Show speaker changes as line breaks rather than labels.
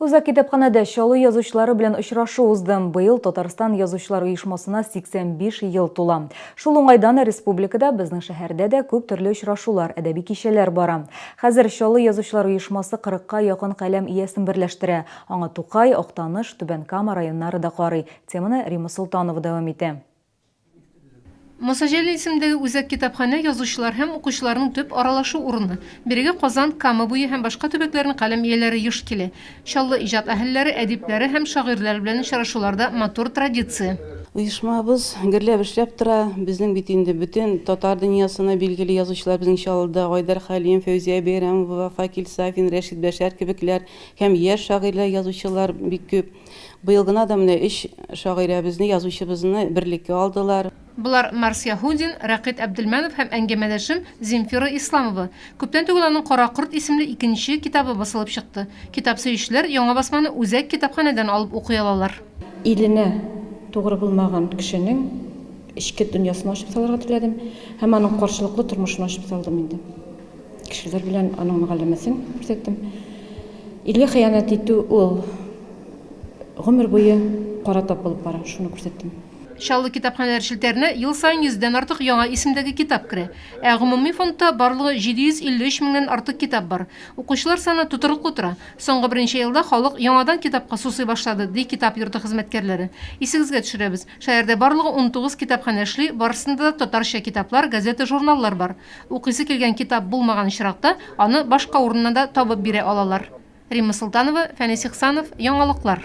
Үзәк китапханәдә Чаллы язучылары белән очрашу узды. Быел Татарстан язучылар оешмасына 85 ел тула. Шул уңайдан республикада, безнең шәһәрдә дә күп төрле очрашулар, әдәби кичәләр бара. Хәзер Чаллы язучылар оешмасы 40 ка якын каләм иясен берләштерә. Аңа Тукай, Актаныш, Түбән Кама районнары да карый. Теманы Рима Солтанова дәвам итә.
Мосаҗәлил исемендәге үзәк китапханә язучылар һәм укучыларның төп аралашу урыны. Бирегә Казан, Кама буе һәм башка төбәкләрнең каләм ияләре еш килә. Чаллы иҗат әһелләре, әдипләре һәм шагыйрьләр белән очрашулар да матур традиция. Оешмабыз
гөрләп эшләп тора. Безнең бит инде бөтен татар дөньясына билгеле язучылар безнең Чаллыда, Айдар Хәлим, Фәүзия Бәйрәмова, Факил Сафин, Рәшит Бәшәр кебекләр һәм яшь шагыйрьләр, язучылар бик күп. Быел гына да менә өч шагыйрәбезне, язучыбызны берлеккә алдылар. Болар, Марс
Яһудин, Рәкыйт Әбделмәнов һәм әңгәмәдәшем Земфира Исламова. Күптән түгел аның Кара корт исемле икенче китабы басылып чыкты. Китап сөючеләр яңа басманы үзәк китапханәдән алып укый алалар. Иленә
тугры булмаган кешенең эчке дөньясын ачып салырга теләдем һәм аның каршылыклы тормышын ачып салдым инде. Кешеләр белән аның мөгалләмәсен күрсәттем. Илгә хыянәт итү ул гомер буе кара тап булып бара, шуны күрсәттем. Чаллы китапханәләр
челтәренә ел саен йөздән артык яңа исемдәге китап керә. Ә гомуми фондта барлыгы 753 меңнән артык китап бар. Укучылар саны тотрыклы тора. Соңгы берничә елда халык яңадан китапка сусый башлады, ди китап йорты хезмәткәрләре. Исегезгә төшерәбез, шәһәрдә барлыгы унтугыз китапханә эшли, барысында да татарча китаплар, газета-журналлар бар. Укыйсы килгән китап булмаган очракта, аны башка урыннан да табып бирә алалар. Римма Солтанова, Фәнис Ихсанов, Яңалыклар.